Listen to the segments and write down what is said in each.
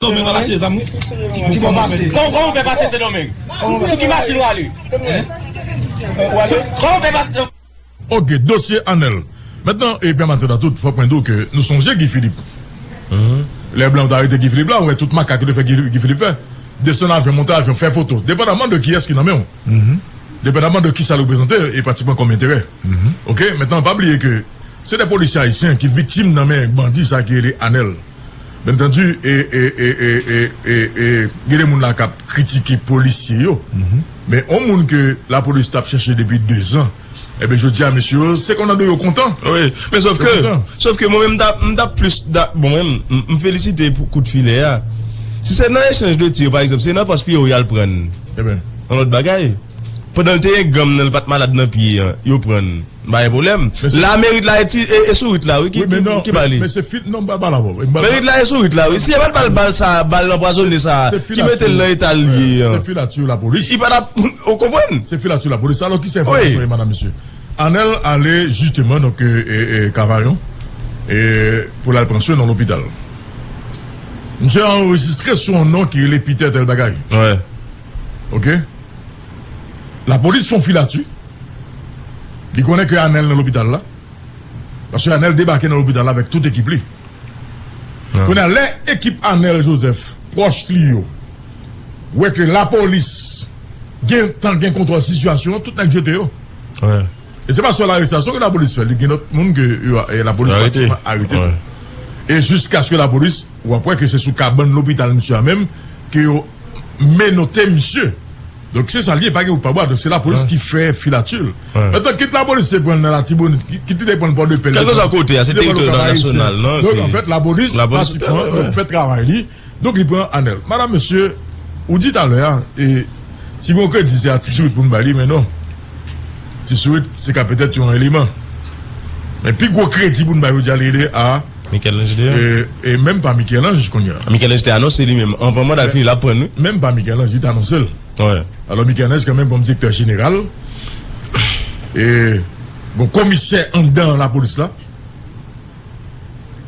Domeng ap achte zam wi. Ki bò pase. Kòman ou fè pase sendomeng. Sou ki machin ou ale. Kòman ou fè pase sendomeng. Ok dosye anel. Mentnan epi antre nan tout fòk mwen di w ke nou sonje Guy Philippe. Lè blan yo te arete Guy Philippe la ou wè tout makak yo te fè Guy Philippe fè. Desann avyon monte avyon fè foto. Depandaman de kiyès ki nan men w. Depandaman de kisa l reprezante e pratikman kòm enterè. Ok mentnan pa bliye ke se de polisye ayisyen ki viktim nan men bandi sa ki rele anel. Byen antandu e e e e e e e gen de moun la kap kritike polisye yo men yon moun ke lapolis tap chèche depi 2 zan enben jodi a mesye yo se kontan de yo kontan wi men sof ke sof ke mwen menm m tap plis da bon menm m felisite pou kout filè a si se nan echanj de tir pa egzanp se nan pòs pye yo yal prann yon lòt bagay pandan l te yon ganm nan l pat malad nan pye an yo prann. Bay pwoblèm. La merit la e sou rit la wi ki bay li. Merit la e sou rit la wi. Si yo pat bal bal sa a, bal anpwazone sa a ki mete l nan eta l ye an. Se filatri yo lapolis. Li pa tap, ou konprann? Se filatri yo lapolis. Alò ki sa enfòmasyon yo madam mesye? Anèl ale jisteman donk Kavayon pou l al pran swen nan lopital. Misye anrejistre sou yon non ki rele Peter Telbagay. Ok. Lapolis fon filati li konnen ke Anel nan lopital la paske Anel debake nan lopital la avèk tout ekip li kounye a lè ekip Anel Joseph pwòch li yo wè ke lapolis gentan gen kontwòl sitiyasyon an tout nèg jete yo e se pa sèl arestasyon ke lapolis fè li gen lòt moun ke lapolis pratikeman arete tou e jiskaske lapolis. Ou ap wè ke se sou kabann lopital misye a menm ke yo menote misye. Donk se sa l ye, pa gen wout pa bwa. Donk se lapolis ki fè filati l. Metan kit lapolis te pran l nan Latibonit, kit li te pran l Pòdepè, kit li te pran l Okap Ayisyen. Donk anfèt lapolis pratikman fè travay li. Donk li pran anèl. Madam, mesye, ou di talè a, e si gon kredi se a Ti Sourit pou n bay li, men non. Ti Sourit se ka petèt yon eleman. Men pi gwo kredi pou n bay jodi a li rele a. Michel-Ange deyò? E menm pa Michel-Ange kounya. Michel-Ange te anonse li menm anvan manda l fini l ap pran l wi. Menm pa Michel-Ange li te anonse l. Wi. Alò Michel-Ange kanmenm kòm direktè jeneral e gon komisè anndan lapolis la,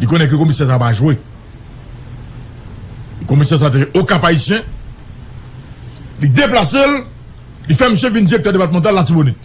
li konnen ke komisè sa pa jwe. E komisè sa te o Kap-Ayisyen, li deplase l, li fè misye vin direktè depatmantal Latibonit.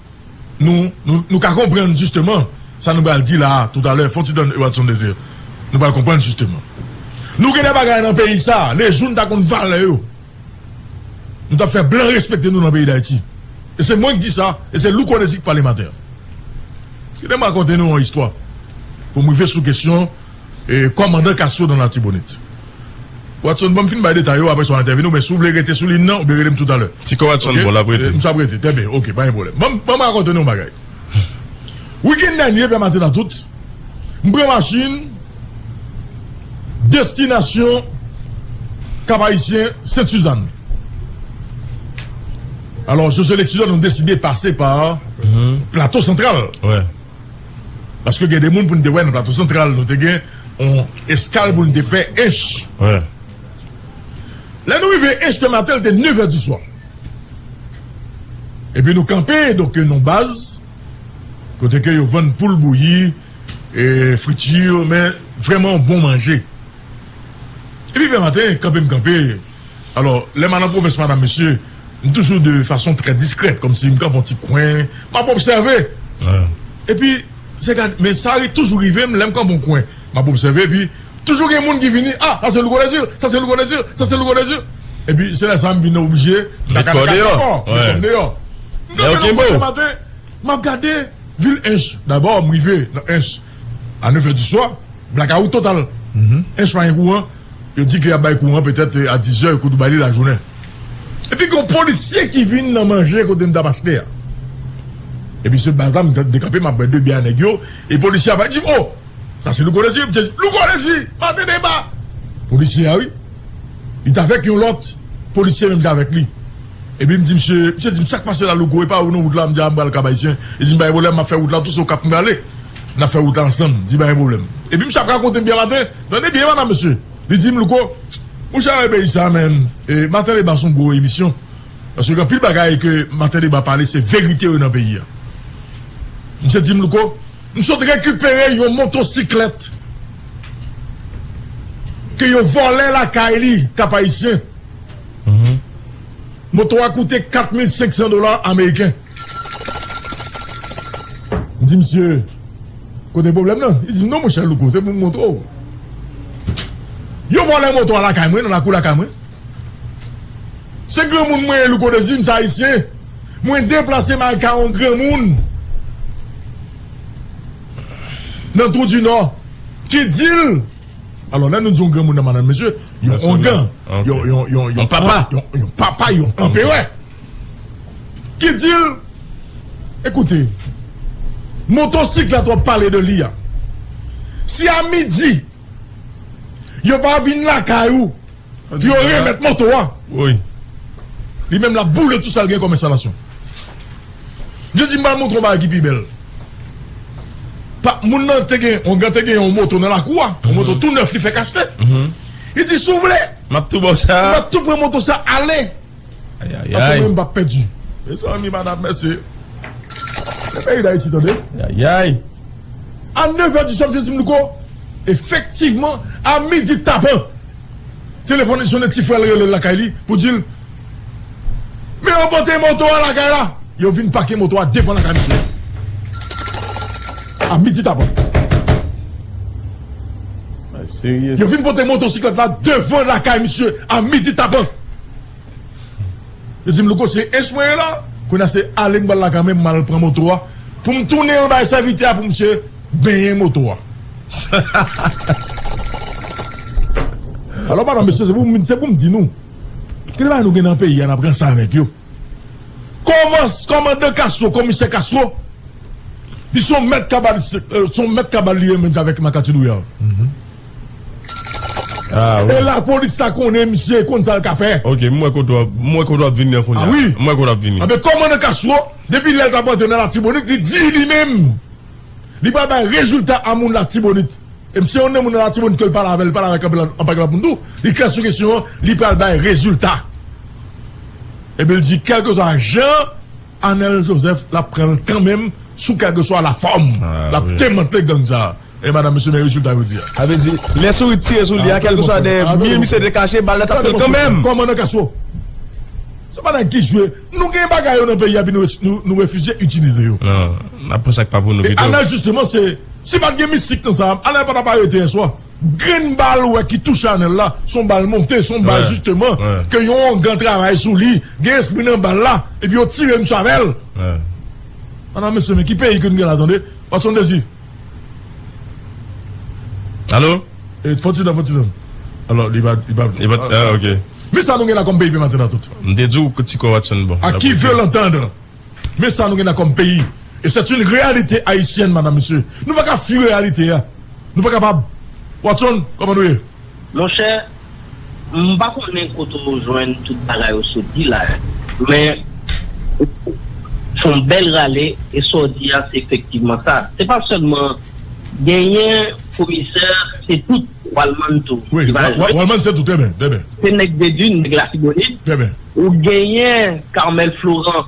Nou, nou, nou ka konprann jisteman sa nou pral di la a toutalè, fon ti tann Ewatson Desir, nou pral konprann jisteman. Nou gen de bagay nan peyi sa a, lejou nou ta konn valè yo, nou t ap fè blan respekte nou nan peyi Dayiti. E se mwen k di sa, e se Louko Désir k pale maten an. Kite m rakonte nou yon istwa pou m rive sou kesyon. Kòmandan Castro nan Latibonit. Watson, bon m fin bay detay yo, aprè sa w entèvenu, men si w vle rete sou lin nan, ou byen rele m toutalè. Si kò Watson bon, l ap rete. M sa p rete. Trè byen, ok, pa gen pwoblèm. Ban m rakonte nou yon bagay. Wikenn dènye, Pè Maten Atout, m pran machin, destinasyon Kap-Ayisyen, Sent Suzann. Alò, Josue Lexidor, nou deside pase pa Plato Santral. Paske gen de moun pou nou te wè nan Plato Santral, nou te gen yon eskal pou nou te fè Ench. Lè nou rive Ench Pè Matel te nevè diswa. Epi nou kanpe donk yon baz kote ke yo vann poul bouyi, friti, men vrèman bon manje. Epi Pè Matel kanpe m kanpe. Alò, lè m a nan pwovens, madam, mesye, m toujou de fason trè diskrèt, kòmsi m kanpe yon ti kwen, m ap obsève. Epi, se gad, men sa toujou rive m, lè m kanpe yon kwen, m ap obsève, epi, toujou gen moun ki vini, a, sa se Louko Dèzir, sa se Louko Dèzir, sa se Louko Dèzir. Epi, se lè sa a m vin oblije met kò deyò. Met kò m deyò. M kanpe yon kwen le maten, m ap gade vil Ench. Dabò, m rive nan Ench a nefè diswa, blakawout total. Ench pa gen kouran. Yo di ke yap bay kouran petèt a 10 zè yo kou Dubai li lajounen. Epi gen yon polisye ki vin nan manje kote m tap achte a. Epi se baz la m t dekanpe map bwè 2 biyè a nèg yo e polisye a pa di m oh sa se Louko Lezi m t di Louko Lezi maten deba. Polisye a wi. Li t avèk yon lòt polisye menm jan avèk li. Epi m di misye, misye di m sak pase la Louko epa ou nan wout la m di a m pral Kap Ayisyen. Li di m pa gen pwoblèm map fè wout la tou se okap m prale nap fè wout la ansanm di pa gen pwoblèm. Epi misye ap rakonte m byen maten. Tande byen madam mesye li dim louko mouche a we peyi sa menm maten deba son gwo emisyon paske gen anpil bagay ke maten deba pale se verite yo nan peyi a misye dim louko m sot rekipere yon motosiklèt ke yo vòlè lakay li kap ayisyen moto a koute 4500 dola ameriken m di misye. Kote pwoblèm nan? Li di m, Non, monchè Louko, se pou m montre w. Yo vòlè moto a lakay mwen, nan lakou lakay mwen. Se granmoun mwen ye, Louko Dezi, m se Ayisyen. Mwen deplase m al kay yon granmoun nan Twoudinò ki di l, alò lè nou di yon granmoun nan, madanm, mesye, yon ongan, yon papa, yon anperè. ki di l Ekoute, motosiklèt w ap pale de li a, si a midi yo pa vin lakay ou pou yo remèt moto a, li menm l ap boule tout sa l gen kòm enstalasyon. Li di, M pral montre w yon bagay ki pi bèl. Moun nan te gen yon te gen yon moto nan lakou a, yon moto tou nèf li fèk achte. Li di, Si w vle, m ap tou pran moto sa ale. Ayayay. Mezanmi madam mèsi. Se peyi dayiti tande. Ayayay. A 9 è di swa msye di m louko efektivman a midi tapan telefòn li sone ti frè l rele l lakay li pou di l men yo pote moto a lakay la yo vin pake moto a devan lakay msye a midi tapan yo vin pote motosiklèt la devan lakay msye a midi tapan Yo di m Louko se Ech mwen ye la Kounye a se ale m pral lakay mwen m al pran moto a pou m tounen an bay sèvitè a pou misye benyen moto a Alò madan mesye se pou m se pou m di nou gen de bagay nou gen nan peyi a n ap ranse avèk yo Kòman kòmandan Kastwo komisè Kastwo li se yon mèt kabal se yon mèt kabal li ye menm jan avèk Makati Louyal. E la polis la konnen misye e konn sa l ka fè. Ok, m wè kote w ap, m wè kote w ap vini an kounya. A wi. M wè kote w ap vini. Anben kòmandan Castro, depi lè l t ap antre nan Latibonit, li di li menm li pral bay rezilta a moun Latibonit. E m se youn nan moun nan Latibonit ke l pale avè l, l pale avèk anpil anpagil lòt moun tou, li klè sou kesyon an, li pral bay rezilta. Epi l di kèlkeswa jan Anèl Jozèf l ap pran l kanmenm sou kèlkeswa lafòm l ap demantle gang sa a. E madam mesye men rezilta yo di a. Sa vle di lè sourit tire sou li a kèlkeswa dèyè mi misye te kache bal la tap fèl kanmenm. Kòman nan kaso? Se pa nan ki jwe. Nou gen bagay yo nan peyi a epi nou refize itilize yo. Non, nap pran sak pa pou nou pito. E Anel jisteman se, si pat gen mistik nan sa, Anel pa tap arete yèswa. Grenn bal ou wè ki touche Anel la, son bal monte, son bal jisteman ke yon ongan travay sou li, gen espri nan bal la, epi yo tire misye avèl. Madam mesye men ki peyi ke nou gen la tande, Watson Désir. Alo? E fon ti dan fon ti dan. Alo li pa li pa li pa ah ok. Men sa nou gen la kòm peyi pe maten nan tout. M te diw ti kò watson bon. A qui veut l'entendre Men sa nou gen la kòm peyi e c'est une réalité haïtienne madame mesye nou paka fui réalité a nou pa kapab watson kòman nou ye? Monchè, m pa konnen kote w jwenn tout bagay w soti la yo, men ou fè yon bèl rale e sa w di a se efektivman sa. Se pa sèlman genyen komisè, se tout Walmann tou ki va jwe. Wi, Walmann se tou, trè byen. Se nèg Dedun, nèg Latibonit. Trè byen. Ou genyen Carmel Florent.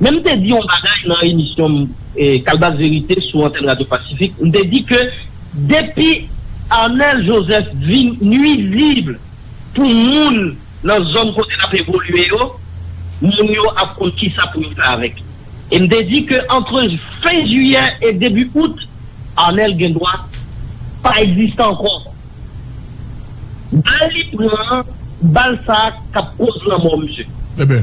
Men m te di yon bagay nan emisyon m Kalbas Verite sou antèn Radyo Pasifik, m te di ke depi Arnel Joseph vin nuizib pou moun nan zòn kote l ap evolye yo, moun yo ap konn kisa pou yo fè avèk li. E m te di ke antre fen jiyè e debi out, Arnel gen dwa pa egziste ankò. Bal li pran an, bal sa k ap koz lanmò misye. Enben,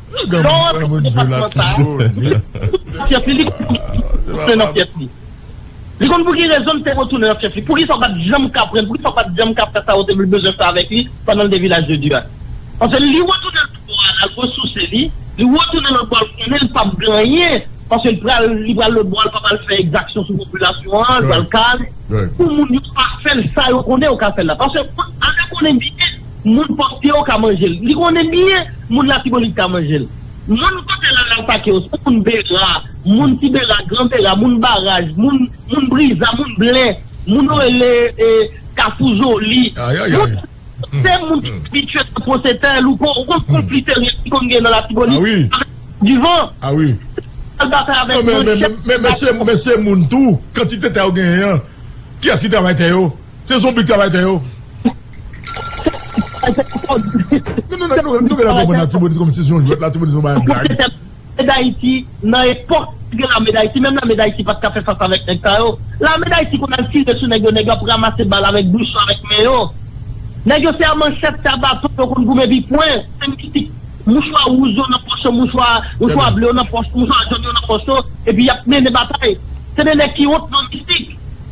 Lè w antre nan depatman sa a, li konn pou ki rezon li te retounen nan fyèf li. Poukisa w pa t janm ka pran l? Poukisa w pa t janm ka fè sa ou te vle bezwen fè avèk li pandan l te Vilaj de Dye a? Paske li retounen l pou al resouse li, li retounen lòt bò a, l konnen l pap gen anyen, paske li pral lòt bò a, l pa pral fè ekzaksyon sou popilasyon an, l pral kale pou moun yo pa fè l sa yo konnen yo ka fè l la. Paske ane konnen byen. Moun pòsye yo ka manje l. Li konnen byen moun Latibonit ka manje l. Moun kote la nan pake yo, se moun Bera, moun Ti Bera, Gran Bera, moun Baraj, moun moun Briza, moun Blen, moun yo rele Kafou Joli. Ayayay! Moun sa yo se moun ki abitye nan pwose tè, Louko. Ou konn konfli teryen ki konn gen nan Latibonit avèk Divan? Awi. Yo al batay avèk Manchè. Men, men, men se moun tou. Kantite tè yo genyen an, kiyès ki travay tè yo? Se zonbi ki travay tè yo. Nou genlè konprann Latibonit kòm si se yon jwèt, Latibonit se yon bagay blag. Lame dayiti nan epòk te gen lame dayiti menm lame dayiti pat ka fè fas avèk nèg sa yo. Lame dayiti konn al tire sou nèg yo nèg yo ap ramase bal avèk bouch yo avèk men yo. Nèg yo se a manchèt se a baton yo konn goumen epi pwen. Se mistik. Mouchwa wouj yo nan pòch yo mouchwa mouchwa ble yo nan pòch yo mouchwa jòn yo nan pòch yo epi yap mennen batay. Se de nèg ki wont nan mistik.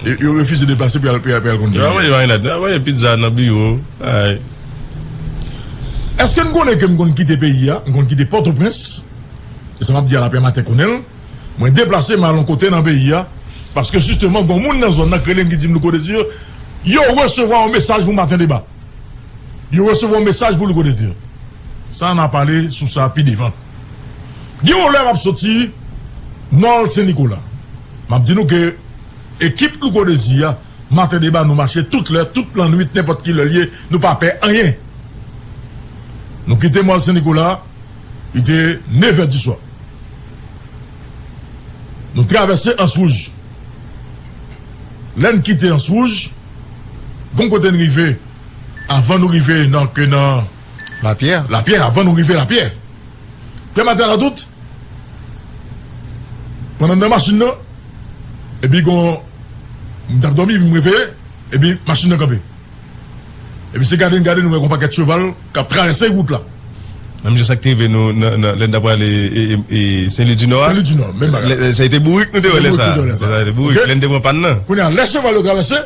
Yo refize deplase pou y al konn peyi. Eske n konnen ke m konn kite peyi a, m konn kite Pòtoprens, e sa m ap di a lapè maten konnen l, mwen deplase m al yon kote nan peyi a, paske jisteman gon moun nan zòn nan k rele m ki di m Louko Desir, yo resevwa yon mesaj pou maten deba. Yo resevwa yon mesaj pou Louko Desir. Sa na pale sou sa pi devan. Gen yon lè map soti mall Sen Nikola. Map di nou ke ekip Louko Desir a maten deba nou mache tout lè, tout lannwit nenpòt ki lè li ye nou pa pè anyen. Nou kite mall Sen Nikola li te nevè di swa. Nou travèse Ans Wouj. Lè n kite Ans Wouj, gon kote n rive avan nou rive nan ke nan. Lapyè. Lapyè, avan nou rive Lapyè. Pyè Matè Ladout pran anndan machin nan, epi gon. M t ap dòmi epi m reveye, epi machin nan kanpe. Epi se gade n gade nou wè gon pakèt cheval k ap travèse wout la. Menm jan sa k te rive nou lè n ta prale Sen Lwi dinò a. Sen Lwi dinò, menm bagay la. Se te bourik nou te wè lè sa a. Se te bourik nou te wè lè sa a. Bourik lè n te pran pàn nan. Kounye a lè cheval yo travèse,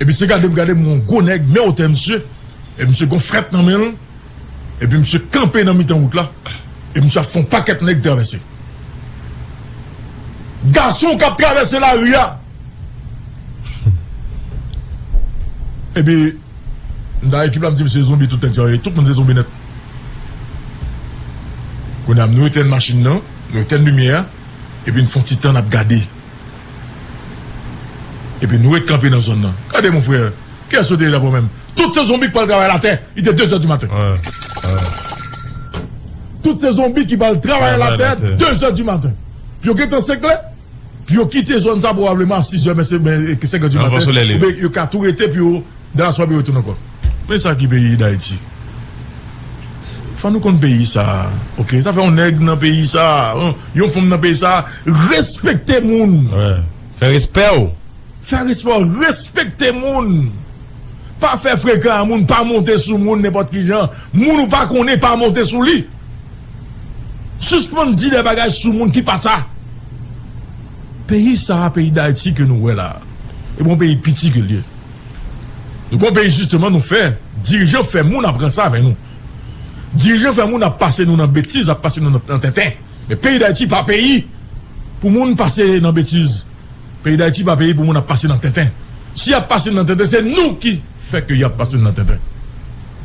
epi se gade m gade m wè yon gwo nèg men wotè misye, epi misye gon frèt nan men l, epi misye kanpe nan mitan wout la, epi misye ap fè yon pakèt nèg travèse. Gason k ap travèse lari a. Epi nan ekip la m di m se zonbi tout nèg sa yo ye tout moun se zonbi nèt Kounye a nou etèn machin nan nou etèn limyè a epi n fon ti tan n ap gade epi nou ret kanpe nan zòn nan Gade mon frère kiyès yo te ye dabò menm Tout se zonbi k pral travay latè li te dezè dimaten Tout se zonbi ki pral travay latè dezè dimaten Yo gentan seklè Yo kite zòn sa pwobableman a 6 è men se 5 è di maten oubyen yo ka tou rete pou yo dan la swabe retounen ankò. Men sa ki peyi dayiti fò nou konn peyi sa ok sa fè yon nèg nan peyi sa yon fanm nan peyi sa respekte moun fè respè w fè respè w respekte moun pa fè frekan a moun pa monte sou moun nenpòt kijan moun ou pa konnen pa monte sou li. Suspann di de bagay sou moun ki pa sa. Peyi sa a, peyi Dayiti ke nou wè la a, e bon peyi piti ke l ye. Nou gon peyi sisteman nou fè, dirijan fè moun ap ranse avè nou. Dirijan fè moun ap pase nou nan betiz, ap pase nou nan tenten. Men peyi Dayiti pa peyi pou moun pase nan betiz. Peyi Dayiti pa peyi pou moun ap pase nan tenten. Si y ap pase nou nan tenten se nou ki. fè ke yap pase n nan tenten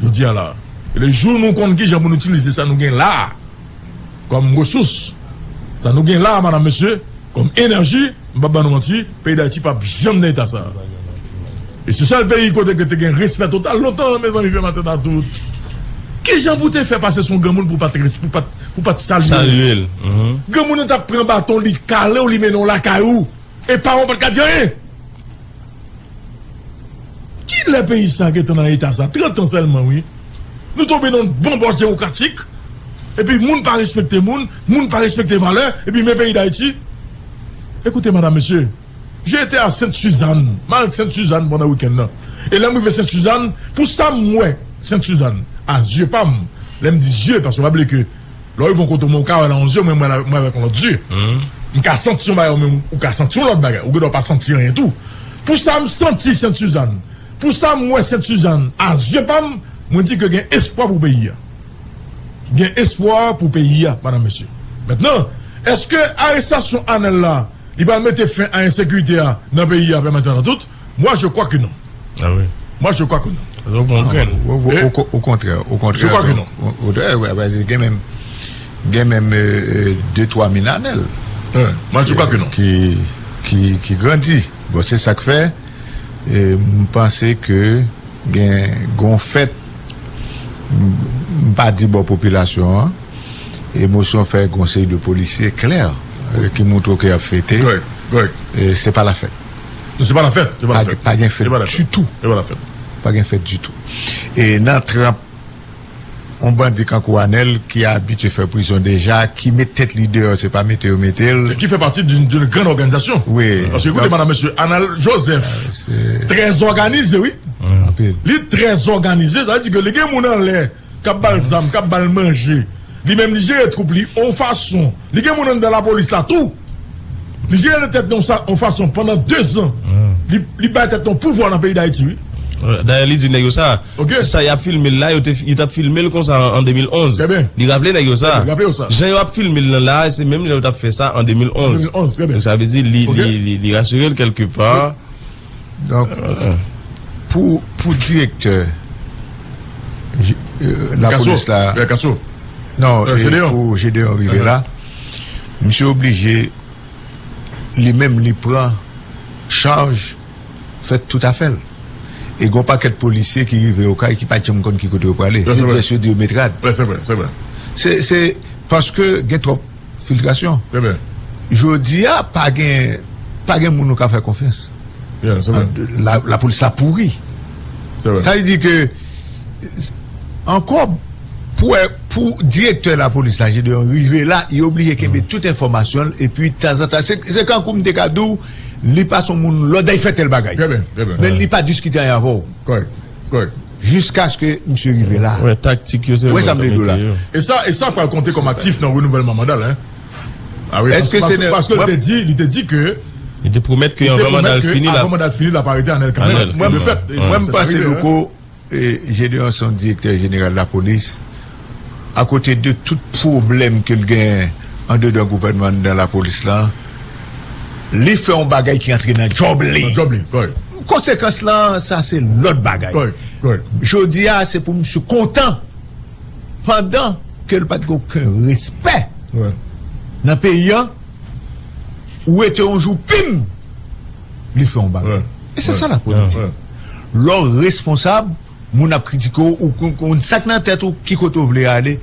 jodi a la e le jou nou konn kijan pou nou itilize sa nou gen la a kòm resous sa nou gen la a madam mesye kòm enèji m pap ban nou manti peyi dayiti pap janm nan eta sa a e se sèl peyi kote ke te gen respè total lontan mezanmi pè matèt a tout kijan pou te fè pase son granmoun pou pat res pou pat salye l granmoun nan tap pran baton li kale w li mennen w lakay ou e paran w pat ka di anyen. Kilè peyi sa gentan nan eta sa? 30 ans sèlman wi. Nou tonbe nan yon banbòch demokratik epi moun pa respekte moun, moun pa respekte valè epi men peyi Dayiti. Ekoute madam mesye, je ete a Sent Suzann, m al Sent Suzann pandan wikenn nan e lè m rive Sent Suzann pou sa m wè Sent Suzann a zye pa m, lè m di zye paske pa bliye ke Lè w rive yon kote ou menm ou ka wè nan yon zye mwen mwen wè avèk yon lòt zye. M ka santi yon bagay ou menm ou ka santi yon lòt bagay. Ou gendwa pa santi anyen tou. Pou sa m santi Sent Suzann, pou sa m wè Sent Suzann a zye pa m, mwen di ke gen espwa pou peyi a. Gen espwa pou peyi a, madanm mesye. Mentnan, èske arestasyon Anèl la li pral mete fen a ensekirite a nan peyi a pèmantènantout? Mwa je kwa ke non. A wi. Mwa je kwa ke non. Ou bon an grenn. O kontrè. O kontrè. Je kwa ke non. O dè. Ou a zi gen menm. Gen menm de twa min anèl. Ou. Mwa je kwa ke non. Ki. Ki. Ki grandi. Bon se sak fè. E m panse ke. Gen. Gon fèt. M pa di bon popilasyon an. E mosyon fè konsey de polisye klè. Ki moutre ke ap fete. Gòy. Gòy. E se pa la fèt. Se pa la fèt. Pa gen fèt ditou. Se pa la fèt. Pa gen fèt ditou. E nan tranp, on bandi kankou Anel ki abitye fè prizon deja, ki met tèt li deyò, se pa mete yo mete l. Ki fè pati doun gran òganizasyon. Wi. Paske koute manan mesye, Anel Joseph, trè zòganize wi. Anpil. Li trè zòganize, sa di ke li gen moun anlè. kap bal zam kap bal manje li menm li jere twoup li on fason li gen moun anndan lapolis la tou li jere nan tèt li on fason pandan 2 zan li bay tèt li on pouvwa nan peyi dayiti wi dayè li di nèg yo sa sa yap filmel la yo tap filmel konsa an 2011 li raple nèg yo sa jan yo ap filmel nan la se menm jan yo tap fè sa an 2011 sa vle di li rasurel kelke pa. Donk, pou direktè la polis la... Kaso, kaso. Non, pou Gédéon Rivera, misye oblije li menm li pran chaj fè tout afèl. E gwo pakèt polisye ki rive yo kay ki pa tchanm konn ki kote yo prale. Se pyès yo di yo met rad. Se paske gen twòp. Filtrasyon. Jodi a pa gen pa gen moun nou ka fè konfyans. La polis la pouri. Sa vle di ke ankò pou wè pou direktè la polis la Gedeon rive la li oblije kenbe tout enfòmasyon l epi tanzantan se kankou m te ka di w li pa son moun lòd a li fè tèl bagay men li pa diskite anyen avè w. Correct. Jiskaske misye rive la. Wè taktik yo se yo menm yo mete yo. E sa e sa pral konte kòm aktif nan renouvèlman manda l hein. Ah wi Eske se nan paske li te di li te di ke Li te pwomèt ke anvan manda l fini l ap avan manda l fini l ap arete Anel kanmèm Anel kanmèm Mwen m panse Louko Gedeon son direktè jeneral lapolis Akote de tout pwoblèm ke l genyen andedan gouvènman andedan lapolis la, li fè yon bagay ki antre nan djòb li. Konsekans la, sa se lòt bagay. Jodi a, se pou misye kontan pandan ke l pa t gen oken respè nan peyi an, ou wete yon jou pim, li fè yon bagay. E se sa lapolitik. Lè w responsab. Moun ap kritike w, ou konn sa k nan tèt ou, ki kote w vle ale.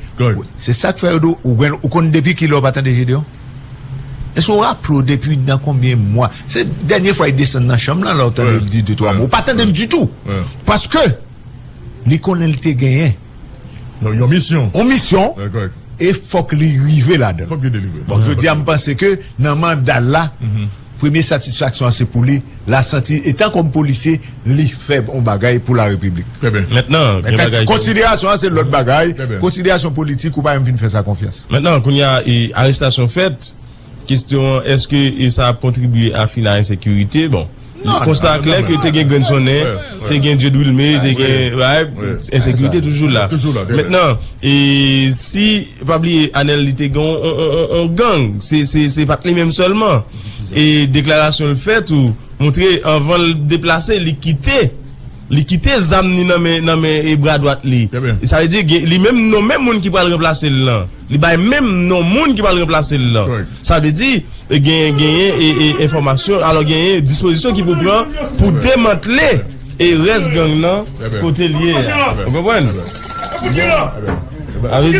Se sa k fè yo di w, ou gen l. Ou konn depi ki lè w pa tande Jedeon? Èske w raple w depi nan konbyen mwa? Se dènye fwa li desann nan chanm lan la w tande l di de twa mo. Ou pa tande l ditou. Paske, li konnen li te genyen. Yon misyon. Yon misyon. E fòk li rive ladan l. Fòk li delivre. Bon, jodi a m panse ke nan manda l la, Premye satisfaksyon an se pou li, la santi etan kòm polisye li fè bon bagay pou la repiblik. Mentnan gen bagay. Konsiderasyon an se lòt bagay, konsiderasyon politik ou pa janm fin fè sa konfyans. Mentnan kounya e arestasyon fèt, kestyon an eske e sa ap kontribye a fini a ensekirite bon. Konsta a klè ke te gen grenn sonnen. Te gen Dieude Wilmé, te gen, right, ensekirite toujou la. Mentnan, e si, pa bliye Anel li te gen yon gang, se pat li menm sèlman. E deklarasyon l fè tou, montre anvan l deplase, li kite, li kite zam ni nan men e bra dwat li. Sa vle di, li menm nonmen moun ki pral ranplase l lan. Li bay menm non moun ki pral ranplase l lan. Sa vle di, genyen genyen enfòmasyon, alò genyen dispozisyon ki pou pran pou demantle e rès gang lan kote l ye a. Ou konprann? Sa vle di.